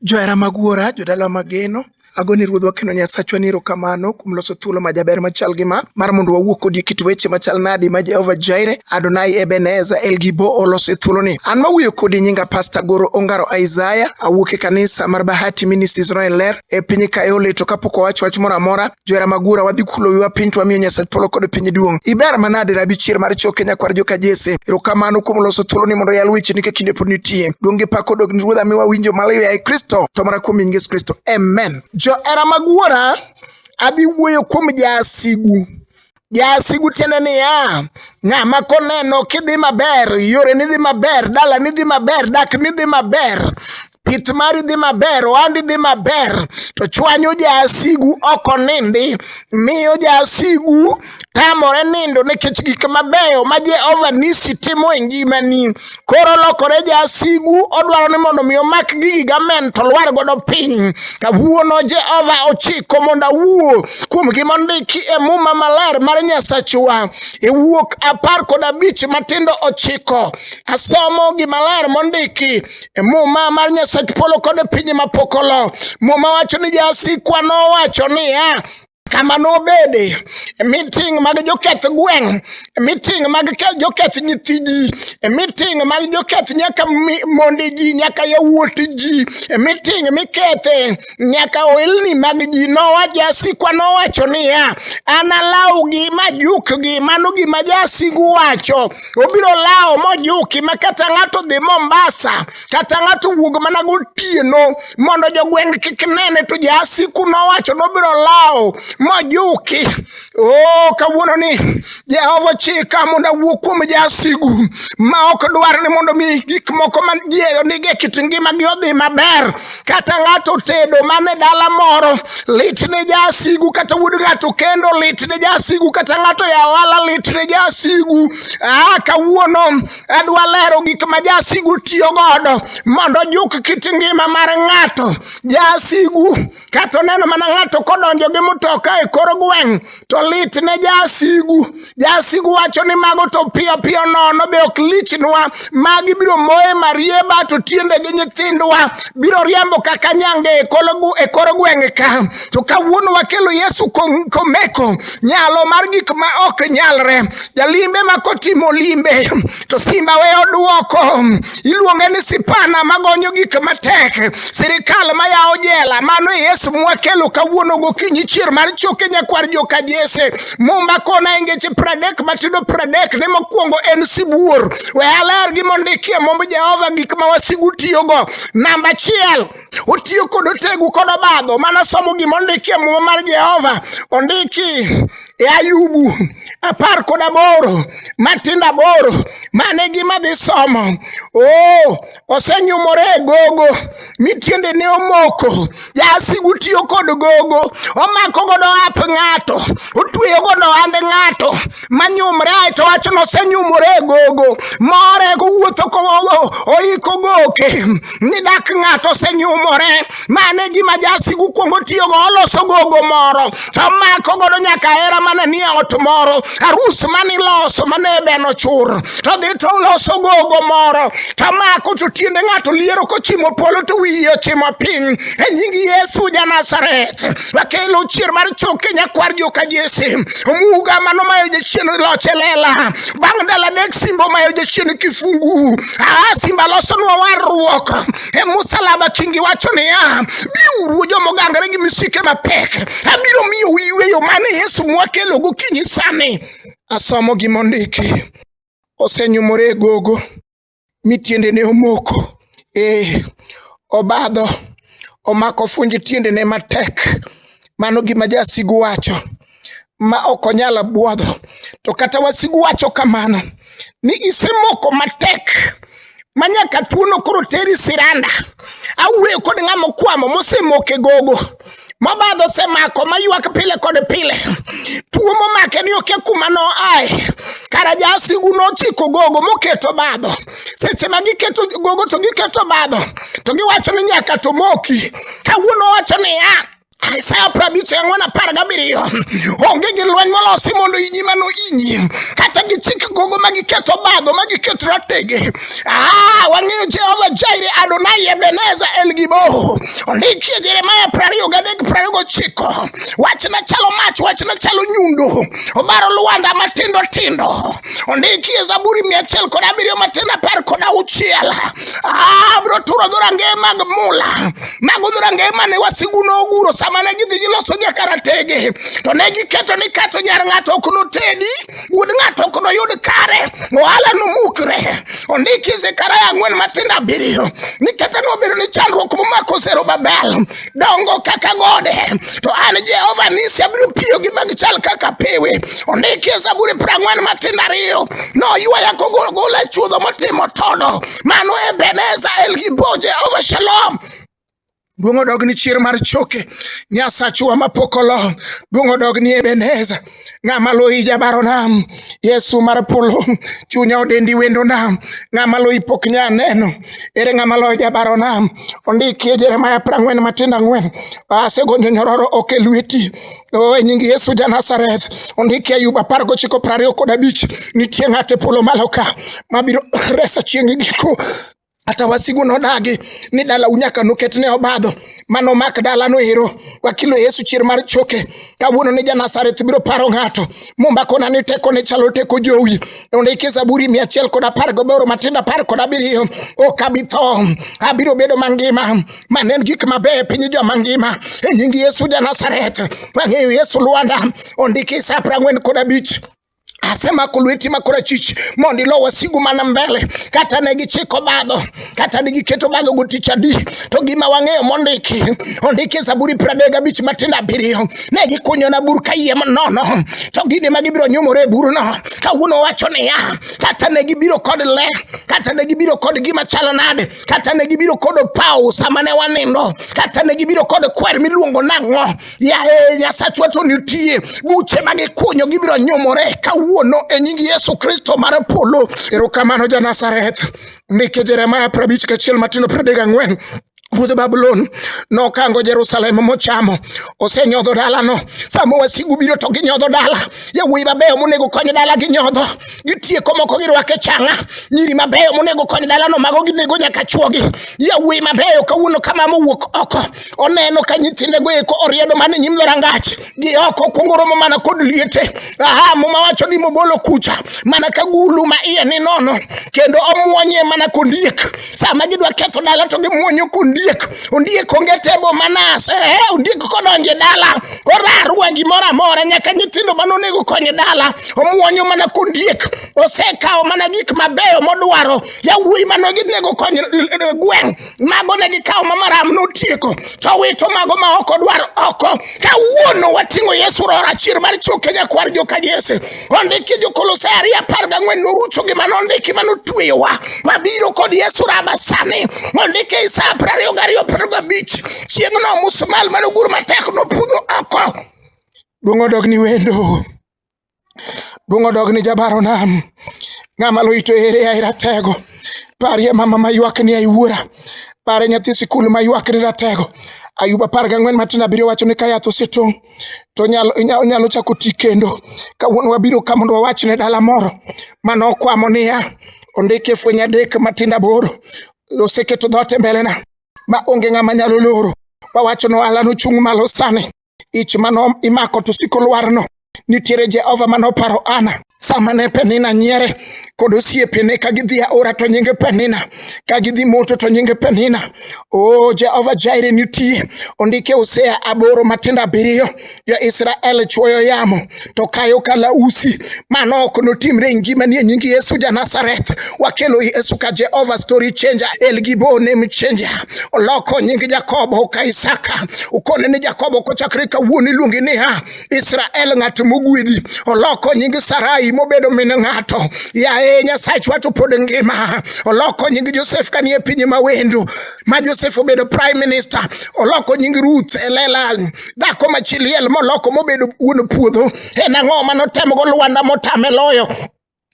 Johera mag Wuora, jodala mageno, ago ni ruodhwa kendo nyasachwa ni erokamano kuom loso thuolo ma jaber machal gi ma mar mondo wawuo kodi e kit weche machal nadi ma jehova jaire adonai ebeneza elgibo oloso e thuoloni an mawuoyo kodi nyinga pasta goro ongaro isaya awuok e kanisa mar bahati ministries roen ler e piny kaole to kapok owacho wach moro amora Jwera Magura wadhi kulo wiwa piny to wamiyo Nyasach polo kod piny duong'. Iber manade rabi chier mar choke nyakwar joka Jese. Erokamano kuom loso thuolo ni mondo yal weche ni ka kinde pod nitie. Duong' gi pak odog ni Ruodha miwa winjo malayo yaye Kristo to mara kuom nying Yesu Kristo. Amen. Johera Magura adhi wuoyo kuom jasigu. Jasigu tiende niya, ng'ama koneno kidhi maber, yore ni dhi maber, dala ni dhi maber, dak ni dhi maber, pith mari dhi maber, ohandi dhi maber, to chwanyo jasigu ok onindi, miyo jasigu tamore nindo nikech gik mabeyo ma Jehova nisi timo e ngimani. koro olokore jasigu odwaro ni mondo mi omak gigi gamen to lwar godo piny kawuono jehova ochiko mondo awuo kuom gima ondiki e muma maler mar nyasachwa e wuok apar kod abich matindo ochiko asomo gimaler mondiki e muma mar nyasach polo kod piny mapokolo muma wacho ni jasikwa nowacho niya kama nobede miting mag joketh gweng' miting mag joketh nyithi ji miting mag joketh nyaka monde ji nyaka yawuot ji miting mikethe nyaka oilni mag ji nowa jasikwa nowacho niya analawgi majukgi mano gima jasigu wacho obiro lawo mojuki ma kata ng'ato dhi Mombasa kata ng'ato wuog mana gotieno mondo jogweng' kik nene to jasiku nowacho nobiro lawo mojuki o oh, kawuono ni jehova chika mondo awuo kuom jasigu ma ok dwar ni mondo mi gik moko manige e kit ngimagi odhi maber kata ng'ato tedo mane dala moro lit ne jasigu kata wuod ng'ato kendo lit ne jasigu kata ng'ato yawo ala lit ne jasigu ah, kawuono adwa lero gik ma jasigu tiyo godo mondo juk kit ngima mar ng'ato jasigu kata oneno mana ng'ato kodonjo gi mtoka e kor gweng' to lit ne jasigu jasigu wacho ni mago to piyo piyo nono be ok lichnwa magi biro moye marieba to tiende gi nyithindwa biro riembo kaka nyange e kor gweng' ka to kawuono wakelo Yesu komeko nyalo mar gik ma ok nyalre. Jalimbe ma kotimo limbe to simba we oduoko, iluonge ni sipana magonyo gik matek, sirikal mayawo jela. Mano e Yesu mwakelo kawuono gokinyi chier mar choke nyakwar joka Jese. Mumba kona e ngeche pradek matindo pradek ne mokwongo en sibuor. We aler gi mondikie momb Jehova gik ma wasigu tiyogo. Namba achiel otiyo kod otegu kod obadho mana somo gima ondiki e muma mar jehova ondiki e ayubu apar kod aboro matindo aboro mane gima dhi somo o osenyumore e gogo mi tiendene omoko jasigu tiyo kod gogo omako godo ap ng'ato otweyo godo ohand ng'ato manyumre to wach nosenyumore e gogo more kowuotho oiko goke ni dak ng'ato osenyumore mane gima jasigu kuongo tiyogo oloso gogo moro to mako godo nyaka hera mana ni ot moro arus mane iloso mane beno chur to dhi to oloso gogo moro to mako to tiende ng'ato liero kochimo polo to wiye ochimo piny e nying yesu janazareth bakelo chier mar choke nyakwar joka jese omuga mano mayo jachien loche lela bang' dala dek simbo mayo jachien kifungu aa simba losonwa warruok e musalaba kingi wacho niya biuru jomogangre gi misike mapek abiro miyo uyweyo mane yesu mwakelo gokinyi sani asomo gimondiki osenyumore e gogo mi tiendene omoko. Ee, obadho, omako funj tiendene matek. Mano gima jasigu wacho, ma ok onyal bwodho. To kata wasigu wacho kamano, ni isemoko matek ma nyaka tuono koro teri siranda. Awuoyo kod ng'ama okwamo mosemoko e gogo. mobadho osemako maywak pile kod pile tuo momake ni oke kuma noae kara jasigu nochiko gogo moketo badho seche ma giketo gogo to giketo badho to giwacho ni nyaka to moki kawuono wacho niya Isaya prabich ang'wen apar gabiriyo onge gi lweny molosi mondo inyi mano inyi kata gichik gogo ma giketo badho ma giketo ratege Ah, wang'eyo Jehova Jaire, Adonai, Ebeneza, El Giboho. Ondikie Jeremaya prariyo gadek prariyo gochiko. Wachna chalo mach, wachna chalo nyundo. Obaro lwanda matindo tindo. Ondikie Zaburi mia achiel kod abiriyo matin apar kod auchiel. Ah, bro turo dhorange mag mula. Mago dhorange mane wasigu noguro sama ne gidhi giloso nyakaratege. To ne giketo ni kato nyar ng'ato ok notedi. Wuod ng'ato ok noyud kare, ohala nomukre. Ondiki Zekaria ang'wen matindo abiriyo ni kata nobedo ni chandruok momako Zerubabel dongo kaka gode, to an Jehova nisi abiro piyo gi mag chal kaka pewe. Ondiki e Zaburi piero ang'wen matindo ariyo noywaya kogolgola e chuodho motimo todo. Mano Ebeneza Elgibo Jehova Shalom. Duong' odog ni chir mar choke, Nyasachwa mapok olo. Duong' odog ni Ebeneza, ng'ama loyi jabaro nam. Yesu mar polo, chunya odendi wendo nam. Ng'ama loyi pok nya neno, ere ng'ama loyo jabaro nam? Ondikie Jeremaya prang'wen matindo ang'wen, asegonyo nyororo ok e lweti. O e nying Yesu ja Nazareth, ondikie Ayuba apar gochiko prariyo kod abich, nitie ng'ate polo malo ka, mabiro resa chieng' giko. Kata wasigu nodagi ni dala unyaka noket ne obadho mano mak dala no ero wakilo Yesu chier mar choke kawuono ni Janasareth biro paro ng'ato mombakona ni teko ne chalo teko jowi ondiki Zaburi mia achiel kod apar gaboro matindo apar kod abiriyo ok abi tho abiro bedo mangima mane en gik mabeyo e piny jo mangima e nying Yesu Janasareth wang'eyo Yesu Lwanda ondiki sa piero ang'wen kod abich asemako lweti ma korachwich mondo ilo wasigu mana mbele kata ne gichiko badho kata ne giketo badho gotich adi to gima wang'eyo mondiki ondiki e zaburi pradek abich matindo abiriyo ne gikunyona bur ka yie manono to gini ma gibiro nyumore e burno kawuono wacho niya kata ne gibiro kod le kata ne gibiro kod gima chalo nade kata ne gibiro kod opawo sama ne wanindo kata ne gibiro kod kwer miluongo nang'o Yaye Nyasachwa to nitie buche ma gikunyo gibiro nyumore kawuono e nying Yesu Kristo mar polo. Erokamano ja Nazareth. Ndike Jeremaya prabich kachiel matindo pradek ang'wen ruodh Babulon nokango Jerusalem mochamo, osenyodho dalano. Sama wasigu biro to ginyodho dala, yawuoyi mabeyo monego kony dala ginyodho, gitieko moko girwake changa, nyiri mabeyo monego kony dalano mago ginego nyaka chwogi, yawuoyi mabeyo kawuono kama mowuok oko oneno ka nyithinde go eko oriedo man e nyim dhorangach gi oko okuongo romo mana kod liete aha muma wacho ni mobolo kucha mana ka gulu ma iye ni nono kendo omwonye mana kondiek sama gidwa ketho dala to gimwonyo kondiek ondiek onge tebo manase eh, ondiek kodonje dala orarwa gimoro amora nyaka nyithindo mane onego konye dala omwonyo mana kondiek osekawo mana gik mabeyo modwaro yawuoyi manoginego konyo eh, eh, gweng' mago ne gikawo ma maram notieko to wito mago ma ok odwar oko kawuono wating'o yesu rora achiel mar choke nyakwar joka jese ondiki jokolosai ariyo apar gang'wen norucho gima nondiki ma notweyowa wabiro kod yesu raba sani ondiki e isaya piero ariyo gariyo piero gabich chieng'no musmal manogur matek nopudho oko duong' odog ni wendo Duong' odog ni jabaro nam. Ng'ama lo ito ere ai ratego. Parie mama ma ywak ni ai wuora. Pare nyathi sikul ma ywak ni ratego. Ayuba apar gang'wen matin abiriyo wacho ni ka yath osetong' to onyalo inya- onyalo chako ti kendo. Kawuono wabiro ka mondo wawach ne dala moro mane okwamo niya, ondike fweny adek matindo aboro, oseketo dhoot e mbelena ma onge ng'ama nyalo loro. Wawacho ni ohala nochung' malo sani. ich mano imako to siko lwarno nitiere jehova mane oparo ana sama ne penina nyiere kod osiepene ka gidhi aora to nyinge penina ka gidhi moto to nyinge penina o jehova jaire nitie ondike usea aboro matindo abiriyo jo-israel chwoyo yamo to kayo kalausi mano ok notimre e ngima ni e nying Yesu ja Nazareth wakelo Yesu ka Jehova story changer El Gibo name changer oloko nying Jakobo ka Isaka ukone ni Jakobo kochakre kawuono iluongi niya Israel ng'at mogwedhi oloko nying Sarai mobedo min ng'ato yaye Nyasachwa to pod ngima oloko nying Josef kanie piny mawendo ma Josef obedo prime minister oloko nying Ruth elela dhako ma chi liel moloko mobedo wuon puodho en ang'o ma notemogo lwanda motame loyo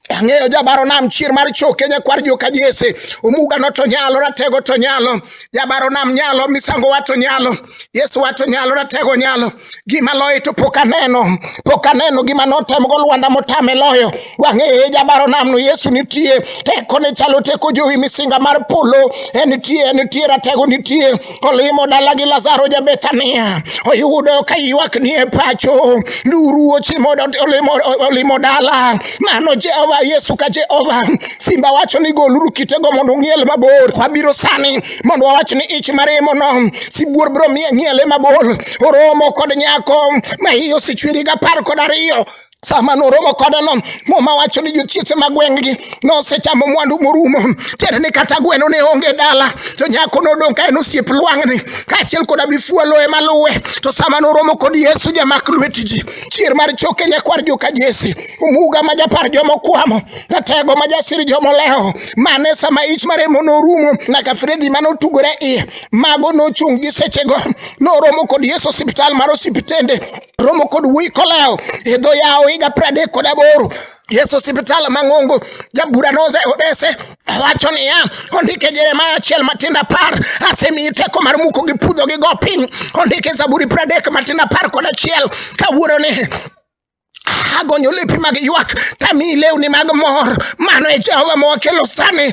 ang'eyo jabaro nam chier mar choke nyakwar joka jese omuga no to nyalo ratego to nyalo jabaro nam nyalo misango wa to nyalo yesu wa to nyalo ratego nyalo gima loye to pok aneno pok aneno gima notemgo lwanda motame loyo wang'eye jabaro nam no yesu nitie teko ne chalo teko jowi misinga mar polo enitie enitie ratego nitie Olimo dala gi Lazaro ja Bethania, oyudo ka ywak nie pacho, nduru ochimo olimo, olimo dala. Mano Jehova Yesu ka Jehova simba wacho ni goluru kitego mondo ung'iel mabor. Wabiro sani mondo wawach ni ich maremo no sibuor bro miye ng'iele mabor. Oromo kod nyako ma iye osechweri gapar kod ariyo sama noromo kodeno muma wacho ni jochiethe ma gweng'gi nosechamo mwandu morumo tiende ni kata gweno ne onge dala to nyako nodong' ka en osiep lwang'ni kaachiel koda mifuolo ema luwe to sama noromo kod yesu jamak lweti ji chier mar choke nyakwar joka jesi omuga ma japar jomokwamo ratego ma jasir jomolewo mane sama ich maremo norumo nyaka fredi ma notugore iye mago nochung' gi sechego noromo kod yesu osiptal mar osiptende romo kod wuoyi kolewo e dho yawo higa pradek kod aboro Yesu osiptal mang'ongo jabura noze odese wacho niya ondike Jeremaya achiel matindo apar asemiyi teko mar muko gi pudho gi go piny ondike Zaburi pradek matindo apar kod achiel kawuoro ni agonyo lepi mag ywak tamiyi lewni mag mor mano e Jehova mowakelo sani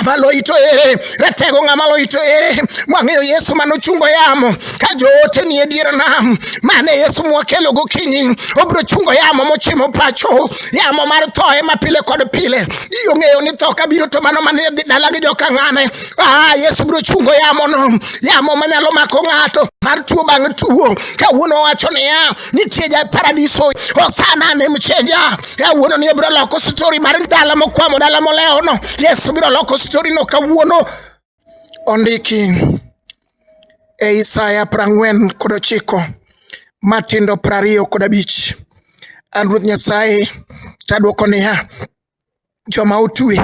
abaloyito ere ratego ng'ama loyito ere mwang'eyo yesu mane ochungo yamo ka joote ni e dier nam mane yesu mwakelo gokinyi obiro chungo yamo mochimo pacho yamo mar tho ema pile kod pile iyo ng'eyo ni tho kabiro to mano mane dhi dala gi jokang'ane ah, yesu biro chungo yamono yamo manyalo mako ng'ato mar tuo bang' tuo kawuono wacho niya nitie ja paradiso osana ne mchenja kawuono ni obiro loko stori mar dala mokwamo dala molewono yesu biro loko storino kawuono ondiki e isaya prang'wen kod ochiko matindo prariyo kod abich an ruoth nyasaye tadwoko niya joma otwe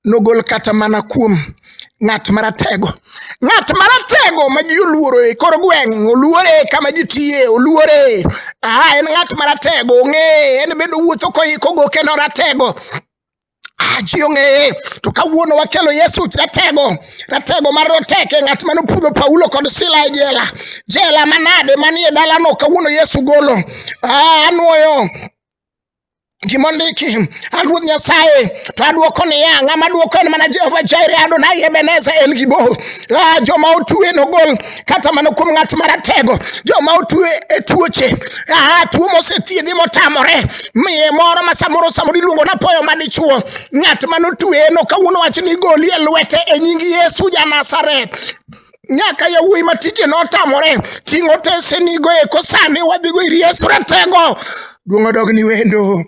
nogol kata mana kuom ng'at maratego ng'at maratego ma ji oluoro e kor gweng' oluore kama ji tiye oluore aha en ng'at maratego ong'eye en bende owuotho koiko goke noratego ji ong'eye to kawuono wakelo yesu ratego ratego mar roteke ng'at mane opudho paulo kod sila e jela jela manade manie dalano kawuono yesu golo ah, anwoyo gima ondiki a ruoth nyasaye to adwoko niya ng'ama dwoko en mana jehova jaire adonai ebeneza en gi bor ah, joma otue nogol kata mana kuom ng'at maratego joma otue e tuoche ah, tuo mosethiedhi motamore miye moro ma samoro samoro iluongo na poyo madichuo ng'at manotue no kawuono wach ni goli e lwete e nying yesu janasaret nyaka yawuoyi ma tije notamore ting' otesenigo eko sani wadhigo ir yesu ratego duong' odog ni wendo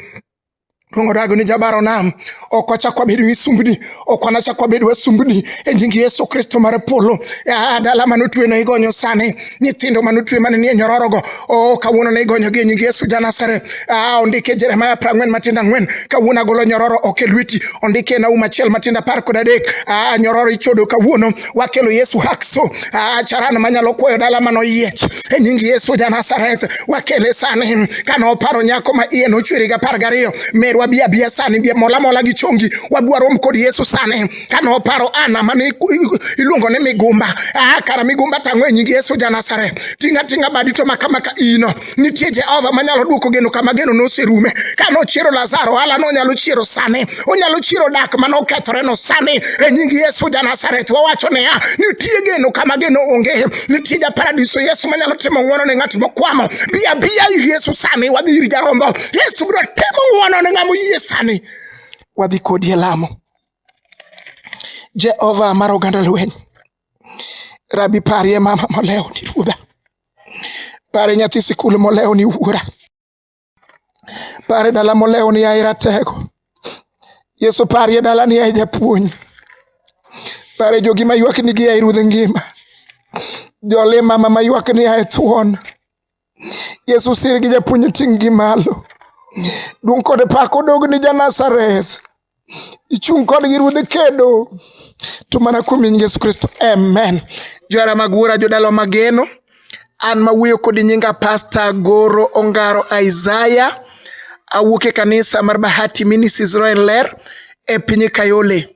Luongo dago ni jabaro nam ok wachak wabedo misumbni ok wanachak wabed wasumbni e nying Yesu Kristo mar polo ah, dala mane otwe ne igonyo sani nyithindo mane otwe mane nie nyororogo o oh, kawuono ne igonyogi e nying Yesu Janasareth ah, ondike Jeremia prang'wen matindo ang'wen kawuono agolo nyororo ok e lweti ondike e Naum achiel matindo apar kod adek ah, nyororo ichodo kawuono wakelo Yesu hakso acharan manyalo kwoyo dala mano yiech e nying Yesu ja Nazareth wakele sani kano paro nyako ma iye nochweri ga par gariyo merwa bia bia sani bia mola mola gi chongi wadwarom kod Yesu sani kano paro ana mane iluongo ni migumba ah kara migumba tango e nying Yesu ja Nazareth tinga tinga badi to maka maka ino Nitie Jehova manyalo duoko geno kama geno noserume. Ka nochiero Lazaro, hala nonyalo chiero sani. Onyalo chiero dak ma nokethore no sani. E nying Yesu ja Nazareth wawacho niya, nitie geno kama geno onge. Nitie ja paradiso Yesu manyalo timo ng'wono ne ng'at mokwamo. Bi abiya ir Yesu sani, wadhi ir jarombo. Yesu biro timo ng'wono ne ng'amo yie sani. Wadhi kodi e lamo. Jehova mar oganda lweny. Rabi, parie mama molewo ni ruodha, pare nyathi sikul molewo ni wuora, pare dala molewo ni aira tego. Yesu, parie dala ni ai japuonj, pare jogi maywak ni gi ai ruodh ngima, jole mama maywak ni ai thuon Yesu sir gi japuonj ting' gi malo. Duong' kod pak odog ni ja Nazareth. Ichung' kodgi ruodhi kedo. To mana kuom nying Yesu Kristo. Amen. Johera mag wuora jodala mageno. An ma wuoyo kodi nyinga Pasta Goro Ongaro Isaiah. Awuok e kanisa mar Bahati Ministries Roen Ler e piny Kayole.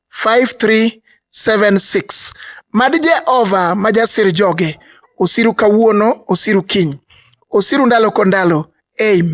5376 Mad Jehova ma jasir joge osiru kawuono, osiru kiny, osiru ndalo kondalo. Amen.